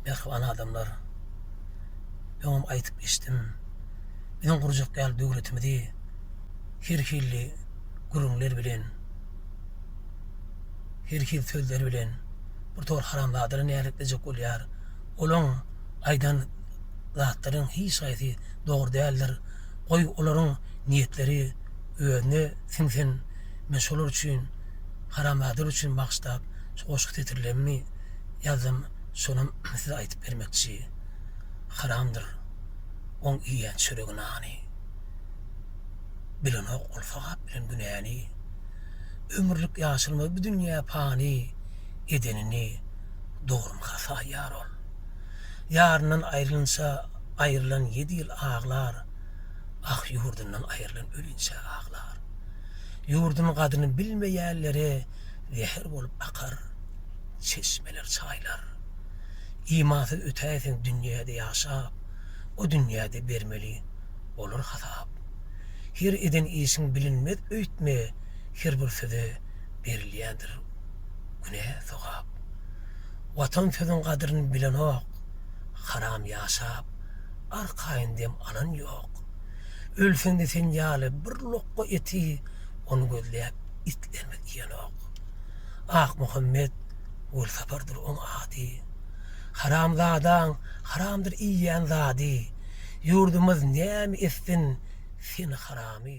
Mähriban adamlar. Öňem aýdyp geçdim. Biziň gurjak ýaly döwletimizi her hilli gürrüňler bilen, her hil sözler bilen bir tor haramzadalar näletlejek bolýar. Olaň aýdan zatlaryň hiç haýsy dogry däldir. Goý olaryň niýetleri özüne siňsin. Men şolar üçin Haramzadalar üçin bagşlap şu goşgy setirlerini ýazdym şonam size aýdyp bermekçi Haramdyr oň iýýän çöregi nany Bilenok ol sogap bilen günäni Ömürlik ýaşalmaz bu dünýä pany Edenini dogrymy hasa ýar ol Ýaryndan aýrylynça aýrylan ýedi ýyl aglar Ah ýurdundan aýrylan ölinçä aglar. Ýurduň gadyny bilmeýänlere zäher bolup akar çeşmeler, çaýlar. Imansyz ötäýseň dünýäde ýaşap, o dünýäde bermeli bolar hasap. Her eden işiň bilinmez öýtme, her bir söze berilýändir günä sogap. Watan sözüň gadryny bilenok, haram ýaşap, arkaýyn dem alan ýok. Ölseňde sen ýaly bir lokga eti ony gözläp itlerimiz iýenok. Akmuhammet Welsapardyr oň ady. Haramzadaň haramdyr iýýän zady. Ýurdumyz näme etsin seni haramy.